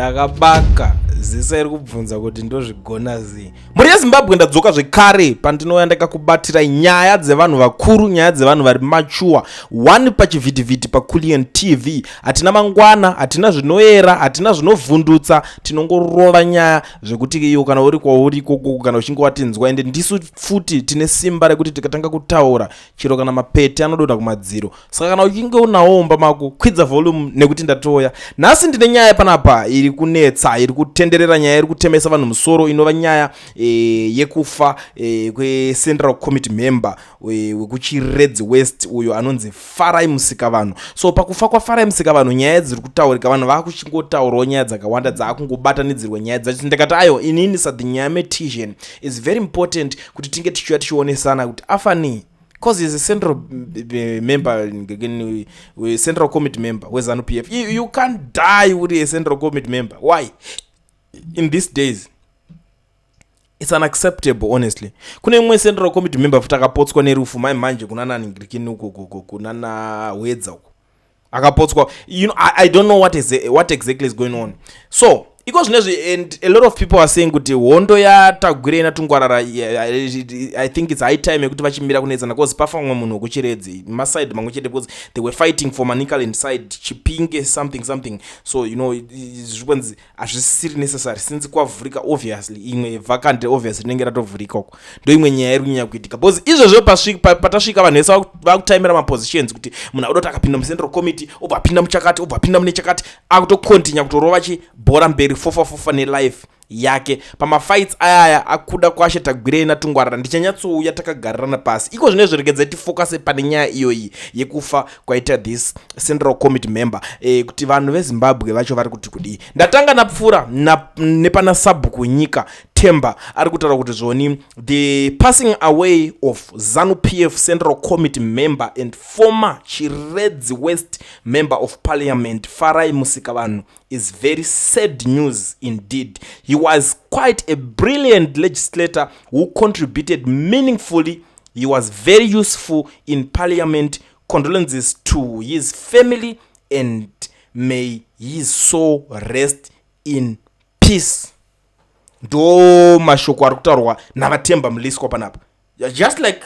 ndakabaka zisa iri kubvunza kuti ndozvigona zii mhuri yezimbabwe ndadzoka zvekare pandinouya ndakakubatira nyaya dzevanhu vakuru nyaya dzevanhu vari machuwa one pachivhitivhiti paculian tv hatina mangwana hatina zvinoyera hatina zvinovhundutsa tinongorova nyaya zvekuti iyo kana uri kwauri ikokoko kana uchinge watinzwa ende ndisu futi tine simba rekuti tikatanga kutaura chero kana mapete anodonha kumadziro saka kana uchinge unawo umba mako kwidza volume nekuti ndatoya nhasi ndine nyaya panapa iri kunetsa iri kutenderera nyaya iri kutemesa vanhu musoro inova nyaya e, yekufa e, kwecentral committee member e, wekuchiredzi west uyo anonzi farai musika vanhu so pakufa kwafarai musika vanhu nyaya dziri kutaurika vanhu vakuchingotaurawo nyaya dzakawanda dzaakungobatanidzirwa nyaya dzacho ndikati ayo inini sadhinyaya metision is very important kuti tinge tichiuya tichionesana kuti afanei because he's a central eh, member eh, eh, central committee member wezanu p f you, you can't die uri a central committee member why in these days it's unacceptable honestly kune imwe central committee member futi akapotswa nerufu mai manje kunana ningirikini uko kunana hwedza uko akapotswa you know, I, i don't know what, is, what exactly is going on so iko zvinezvi and a lot of people are saying kuti hondo yatagwira ina tungwarara i think its high time yekuti vachimira kunetsana bcause pafa mumwe munhu wekuchiredzi maside mamwe chete bcause they were fighting for manicaland side chipinge something something so you know zvikonzi hazvisisiri necessary since kwavhurika obviously imwe vacant obviously rinenge ratovhurika uko ndoimwe nyaya iri kunyanya kuitika bcause izvozvo patasvika vanhu vese vakutaimira mapositions kuti munhu akuda kuti akapinda mucentral committee obva apinda muchakati obva apinda mune chakati akutocontinya kutorova chibhora mberi fofafofa nelife yake pamafights ayaya akuda kwashe tagwirei natungwarara ndichanyatsouya takagarirana pasi iko zvino zviregedzai tifokase pane nyaya iyoyi yekufa kwaita this central committee member eh, kuti vanhu vezimbabwe vacho vari kuti kudii ndatanga napfuura na, nepana sabhuku nyika temba ari kutaura kuti zvoni the passing away of zanu pf central committee member and former chiredzi west member of parliament farai musika vanhu is very sad news indeed he was quite a brilliant legislator who contributed meaningfully He was very useful in parliament condolences to his family and may his soul rest in peace. Ndo mashoko ari kutaurwa naVaTemba Mliswa panapa. Just like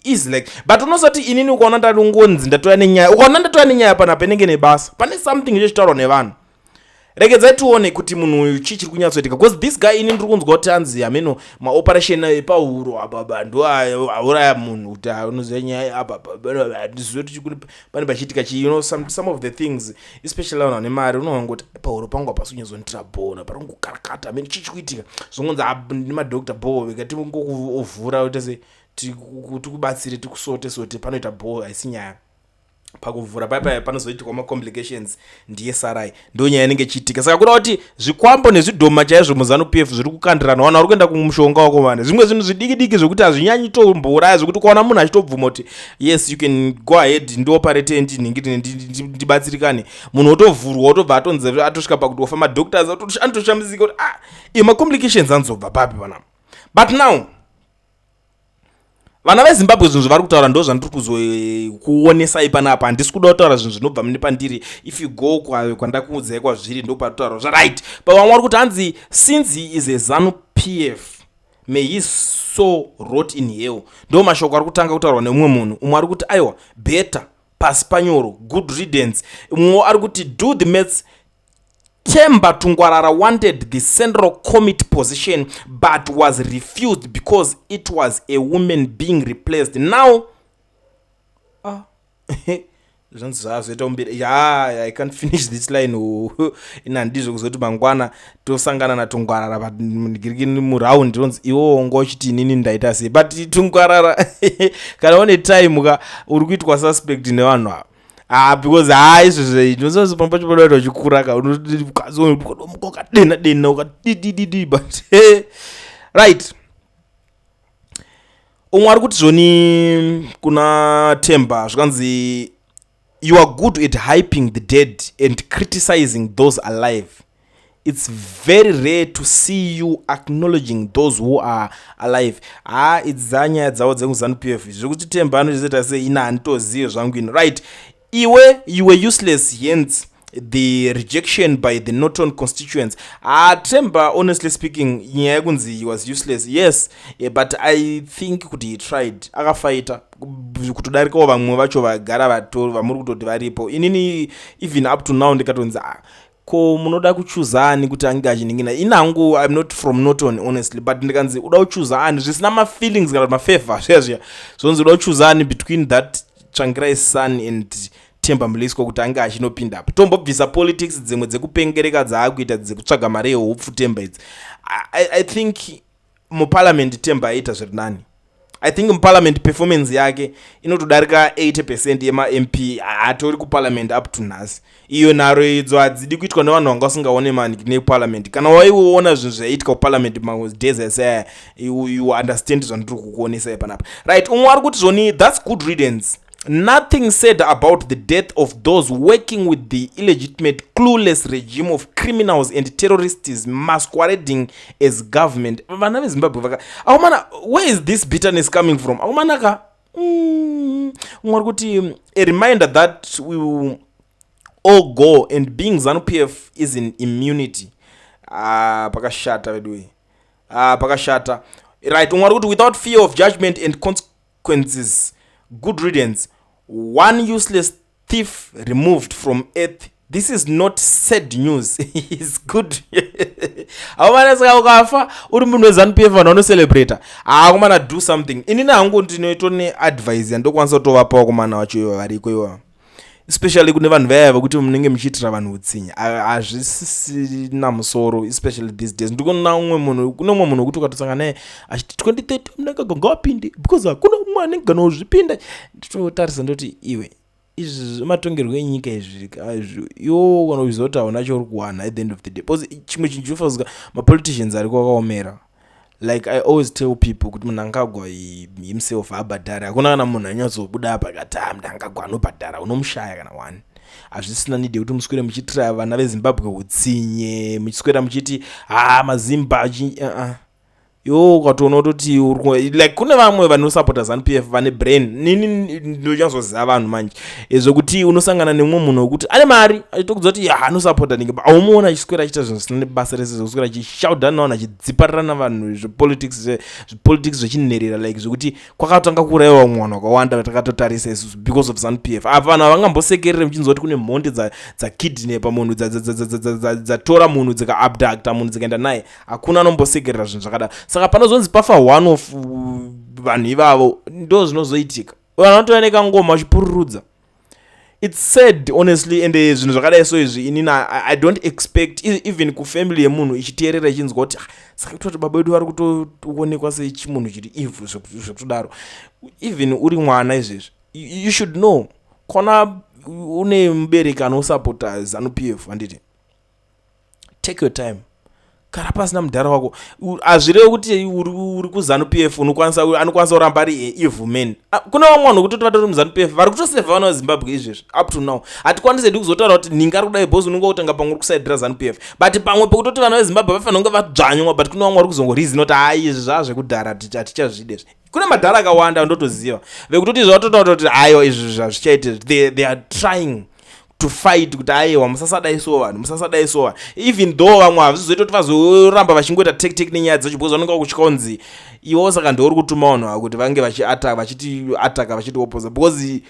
is like but unosati inini ukaona ndati ngonzi ndatouya nenyaya ukaona ndatouya nenyaya panapa inenge nebasa pane something chechitaurwa nevanhu regedzai tione kuti munhu uyu chii chiri kunyatsoitika bcause this guy ini ndiri kunzwa kuti anzi hameno maoperation epahuro ababa ndo auraya munhu kuti anoziva nyaya ababaandizive kuti chikuri pane pachiitika chii you know some, some of the things especially vanhu vane mari unoona kuti pahuro pangu hapasi kunyazonitira bona pari kungokarakata hameno chii chikuitika zvongonzi ah, nemadokta bho vekati ngokuovhura oita se tikubatsire tikusote sote panoita bho haisi nyaya pakuvhura pai pai panozoitikwa macomplications ndiye sarai ndo nyaya inenge ichiitika saka kuda kuti zvikwambo nezvidhoma chaizvo muzanu p f zviri kukandirana wana uri kuenda kumushonga wako vane zvimwe zvinhu zvidiki diki zvekuti hazvinyanyi tombouraya zvekuti ukaona munhu achitobvuma kuti yes you can go ahead ndioparate ndinhingirine ndibatsirikane munhu otovhurwa otobva atonzi atosvika pakuti ofa madoctors anotoshamisika kuti ah imacomplications anozobva papi vanapa but now vana vezimbabwe zvinhu zvavari kutaura ndo zvandiri kuzokuonesai eh, panapa handisi kuda kutaura zvinhu zvinobva mune pandiri if you go kwandakuudzai kwazviri ndopatotaura zvaright but vamwe vari kuti hanzi since he is a zanu p f may his so rot in hell ndo mashoko ari kutanga kutaurwa neumwe munhu umwe ari kuti aiwa better pasi panyoro good readence umwewo ari kuti do the mats Themba Tungwarara wanted the central committee position but was refused because it was a woman being replaced. Now, ah, zvanzi zvazoita umbiri ya i can't finish this line ina ndizvo kuzoti mangwana tosangana natungwarara but ndigirikini muround ronzi iwo wonga uchiti inini ndaita sei but tungwarara kana une time ka uri kuitwa suspect nevanhu ava Ah, because haa ah, izvezve ndinoziva pamba pacho padaita uchikura ka unokazi unomuka ukadena dena ukadidididi but right umwe ari kuti zvoni kuna temba zvikanzi you are good at hyping the dead and criticizing those alive its very rare to see you acknowledging those who are alive haa idzi dzanyaya dzavo dzekuzanu p f zviri kuti temba anochizoita sei ina handitozive zvangu ino right iwe you were useless hence the rejection by the norton constituents haa temba honestly speaking nyaya yekunzi he was useless yes eh, but i think kuti he tried akafaita kutodarikawo vamwe vacho vagara vamuri kutoti varipo inini even up to now ndikatonzi ah, ko munoda kuchuza ani kuti ange achiningina ini hangu im not from norton honestly but ndikanzi uda kuchuza ani zvisina mafeelings kana mafavor zviya zviya zvonzi uda kuchuza ani between that tsvangirai sun and temba muliswa kuti ange achinopinda apo tombobvisa politics dzimwe dzekupengereka dzaakuita dzekutsvaga mari yehopfu temba idzi I, i think muparliament temba aita zviri nani i think muparliament performance yake inotodarika 80 percent yemamp hatori kuparliament up to nhasi iyo nharo idzo hadzidi kuitwa nevanhu vanga vasingaone mani neparliament kana waiona zvinhu zvaiitika kuparliament madays ese you understand zvandiri kukuonesai panapa right umwe ari kuti zvoni thats good readance Nothing said about the death of those working with the illegitimate, clueless regime of criminals and terrorists masquerading as government. Vana veZimbabwe vaka akomana, where is this bitterness coming from? Akomana ka mm, mwari kuti mm, a reminder that we will all go and being Zanu PF is in immunity. Ah, pakashata veduwe. Ah, pakashata. Right, mwari kuti without fear of judgment and consequences consequences good riddance one useless thief removed from earth this is not sad news is good haumanasika ukafa uri munhu wezanup f vanhu vanocelebrata haakumana do something inini hangu ndinoito neadvise yandokwanisa kutovapawo kumana wacho ivo variko ivo especially kune vanhu vaya vekuti munenge muchiitira vanhu utsinye hazvisisina musoro especially these days ndikuona umwe munhu kune umwe munhu wekuti ukatosanga naye achiti 2030 munenge ganga wapinde because hakuna umwe anenge kana uzvipinda nditotarisa ndoti iwe izvi zvematongerwo enyika izvi yo kana uchiziva kuti hauna chauri kuwana at the end of the day because chimwe chinhu chinofanzika mapoliticians ariko akaomera like i always tell people kuti munangagwa himself abhadhari hakuna kana munhu anyatsobuda apa kati a ah, munangagwa anobhadhara unomushaya kana one hazvisina nidi yekuti muswere muchiitira vana vezimbabwe utsinye muchiswera muchiti haa ah, mazimba uh-uh. yo ukatoona utoti like kune vamwe vanosapota zanupf vane brain nini ndochazoziva vanhu manje e, zvekuti unosangana nemumwe munhu wekuti ane mari achitokudzwa kuti ya anosapota nenge aumuona achiswera achiita zvinhu zvisina nebasa rese zvekuswera achishauda navanhu achidziparira navanhu zvepolitics zvepolitics zvechinherera like zvekuti kwakatanga kuuraiwa vamwe vanhu vakawanda vatakatotarisa isusu because of zanp f apa vanhu havangambosekerere muchinzwa kuti kune mhondi dzakidnepa munhu dzatora munhu dzikaabducta munhu dzikaenda naye hakuna anombosekerera zvinhu zvakadaro saka panozonzi pafa one of vanhu ivavo ndo zvinozoitika uyo anotouya nekangoma uchipururudza its sad honestly and eh, zvinhu zvakadai so izvi inini i don't expect e, even kufamily yemunhu ichiteerera ichinzwa kuti ah, saka kutoti baba vedu vari kutoonekwa sechimunhu chiri evhu zvekutodaro even uri mwana izvezvi you should know kona une mubereki anosupporta zanup f handiti take your time kana pasina mudhara wako hazvirevi kuti uri kuzanu p f unokwanisa anokwanisa kuramba ari eh, evil man ah, kune vamwe vanhu vekuti vatori muzanu p f vari kutoseva vana vezimbabwe izvezvi up to now hatikwanisi hedu kuzotaura kuti ninga ari kudai bos unenge kutanga pamwe uri kusaidira zanu p f but pamwe pekutoti vana vezimbabwe vafanira kunge vadzvanywa but kune vamwe vari kuzongorizi noti hai izvi zvaa zvekudhara hatichazvide izvi kune madhara akawanda ndotoziva vekutoti izvi vatotaura kuti aiwa izvi zvazvichaite they are trying to fight kuti ayewa musasadai so vanhu musasadai so vanhu even though vamwe hazvizoita kuti vazoramba vachingoita tek tek nenyaya dzacho because vanenge vakutya kunzi iwo saka ndiwo uri kutuma vanhu ava kuti vange vachiataka vachiti ataka vachiti opoza because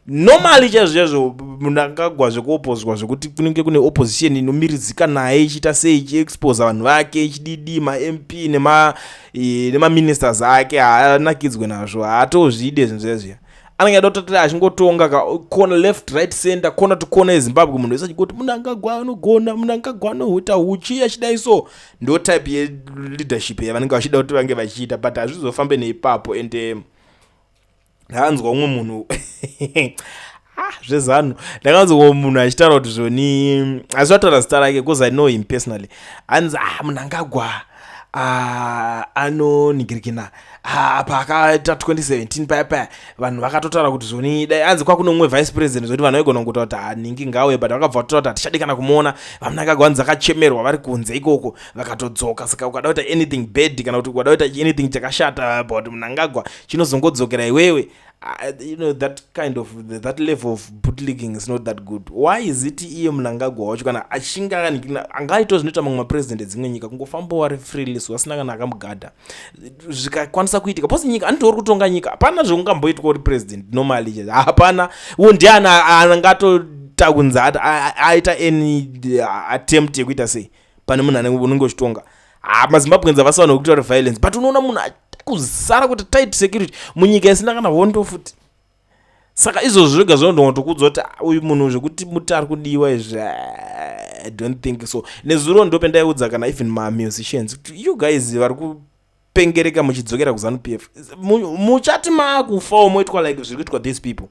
normally chaizvo chaizvo munhu akagwa zvekuopozwa zvekuti kunenge kune opposition inomiridzika naye ichiita sei ichiexposa vanhu vake ichididi mamp nemaministers ake haanakidzwe nazvo haatozvide zvinhu zvezviya anenge aida kutoti achingotonga ka kona left right center kona to kona yezimbabwe munhu wese achingoti munangagwa anogona munangagwa anohuta huchi achidai so ndo type yeleadership yavanenge vachida kuti vange vachiita but hazvizofambe neipapo and eh, ndakanzwa umwe munhu ah, zvezanu ndakanzwa munhu achitaura kuti zvoni asi vataura zita rake bcause i know him personally anzi ah munangagwa Ah, anonigirikina ah, apa akaita 2017 paya paya vanhu vakatotaura kuti zvoni dai anzi kwakuno umwe vice president zvoti vanhu vaigona kungotaura kuti haningi ah, ngauye but vakabva vatotaura kuti hatichadi kana kumuona vamunangagwa vanzi vakachemerwa vari kunze ikoko vakatodzoka saka ukada kuita anything bad kana kuti ukada kuita anything chakashata about munangagwa chinozongodzokera iwewe Uh, you know that kind of the, that level of bootlegging is not that good why is it iye munangagwa wacho kana achinge angaito zvinoita mamwe mapresident edzimwe nyika kungofamba wari freelis wasina kana akamugadha zvikakwanisa kuitika pose nyika anoti uri kutonga nyika hapana zvekungamboitwa uri president normally chete hapana wo ndiani anangato takunzi aita any uh, attempt yekuita sei pane munhu anenge unenge uchitonga haa ah, mazimbabweans havasi vanhu vekutaura violence but unoona munhu kuzara kuti tight security munyika isina kana hondo futi saka izvozvo zvega zvinondongotokuudzwa kuti ah, uyu munhu zvekuti muti ari kudiwa izvi ah, i don't think so nezuro ndo pendaiudza kana even mamusicians kuti you guys vari pengereka muchidzokera kuzanu p f muchati maakufawo moitwa like zviri kuitwa these people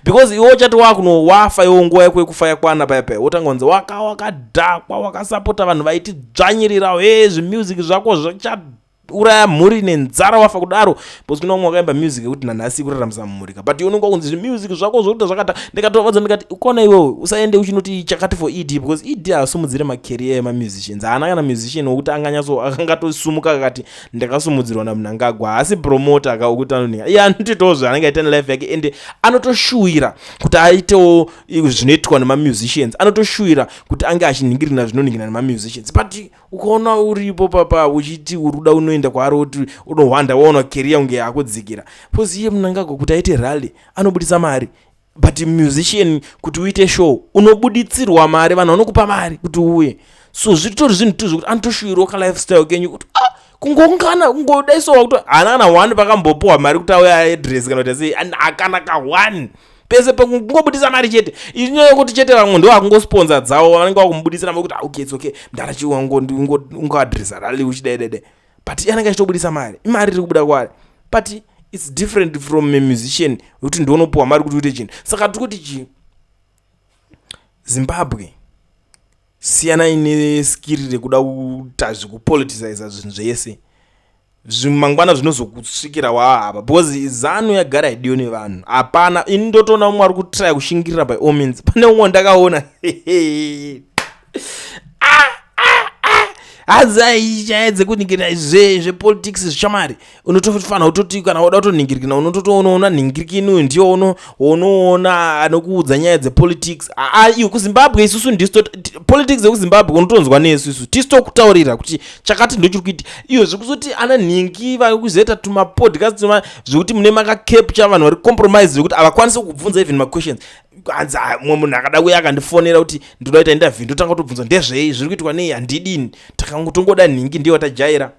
because iwe uchati wakunowafa iwo nguva yako yekufa yakwana paya paya wotanga kunzi waka wakadhakwa wakasapota vanhu vaiti dzvanyirirawo e zvimusic zvako zvichauraya mhuri nenzara wafa kudaro because kuna umwe wakaimba music yekuti nanhasi ikuraramisa mhuri but unenge wakunzi zvimusic zvako zvokuita zvakata ndikatovadza ndikati ukona iwewe usaende uchinoti chakati for ed because ed haasumudzire macareer emamusicians haana kana musician wokuti anganyatso akangatosumuka akati ndakasumudzirwa namunangagwa haasi promoter aka okuti anonhinga iye anotoitawo zvaanenge aita nelife yake ende anotoshuwira kuti aitewo zvinoitwa nemamusicians anotoshuwira kuti ange achinhingirina zvinonhingirina nemamusicians but ukaona uripo papa uchiti uri kuda unoenda kwaari woti unohwanda waona keriya kunge yakudzikira bcause iye munangagwa kuti aite rally anobudisa mari but musician kuti uite show unobuditsirwa mari vanhu vanokupa mari kuti uuye so zvitori zvinhu tu zvekuti anotoshuirwa kalifestyle kenyu kuti ah, kungongana kungodaisowa kuti hana kana one pakambopuwa mari kuti auya aedress kana kuti sei hakana ka one ah, pese pekungobudisa mari chete inyaya yekuti chete vamwe ndo vakungosponza dzavo vanenge vakumubudisira mari kuti ah, okay it's okay mdara chi ungoadresa rally uchidaidede but anenge achitobudisa mari imari iri kubuda kwaari but its different from a musician wekuti ndionopuwa mari kuti uite chinhu saka tiri kuti chii zimbabwe siyanai neskiri rekuda kuita zvekupoliticiza zvinhu zvese zvimangwana zvinozokusvikira waahava because zanu yagara idiyo nevanhu hapana ini ndotoona umwe ari kutraya kushingirira by all means pane umwe ndakaona hanzi aichaedze kuningirira zvepolitics zvichamari unotofanira kutoti kana woda kutonhingirikina unototoona ona nhingirikini uyu ndiyo uno unoona anokuudza nyaya dzepolitics aa iyo kuzimbabwe isusu ndisu politics yekuzimbabwe unotonzwa nesu isu tisu tokutaurira kuti chakati ndochiri kuiti iyo zvekuzoti ana nhingi vakuzoita tumapodcast zvekuti mune makacapture vanhu vari compromise zvekuti havakwanise kubvunza even maquestions hanzi ah, mumwe munhu akada kuya akandifonera kuti ndoda kuita interview ndotanga kutobvunza ndezvei zviri kuitwa nei handidini takangotongoda nhingi ndiyo watajaira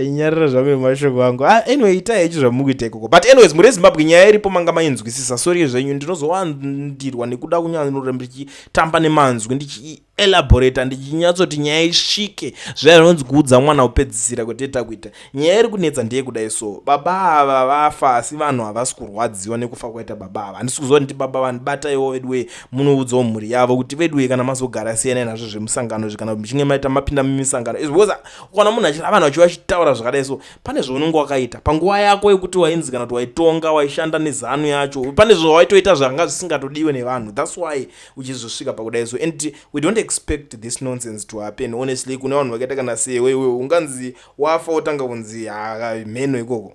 nyarira zvangu nemashoko angu ah, anyway itai ichi zvamukuita ikoko but anyways muri ezimbabwe nyaya iripo manga mainzwisisa sori zvenyu ndinozowandirwa nekuda kunyanyoramba ndichitamba nemanzwi ndichielaborata ndichinyatsoti nyaya isvike zvaya zvinonzi kuudza mwana kupedzisira kwateta kuita Nyaya iri kunetsa ndeye kudai so baba ava vafa asi vanhu havasi kurwadziwa nekufa kwaita baba ava handisi kuziva kuti baba vanhu bataiwo veduwe munoudzawo mhuri yavo kuti veduwe kana mazogara siyanai nazvo zvemusangano izvi kana kuti muchinge maita mapinda mumisangano izvi because ukaona munhu achira vanhu vachiva vachitaura zvakadai so pane zvaunenge wakaita panguva yako yekuti wainzi kana kuti waitonga waishanda nezanu yacho pane zvawaitoita zvanga zvisingatodiwe nevanhu thats why uchizosvika pakudai so and we don't expect this nonsense to happen honestly kune vanhu vakaita kana sewe iwe unganzi wafa wotanga kunzi mheno ikoko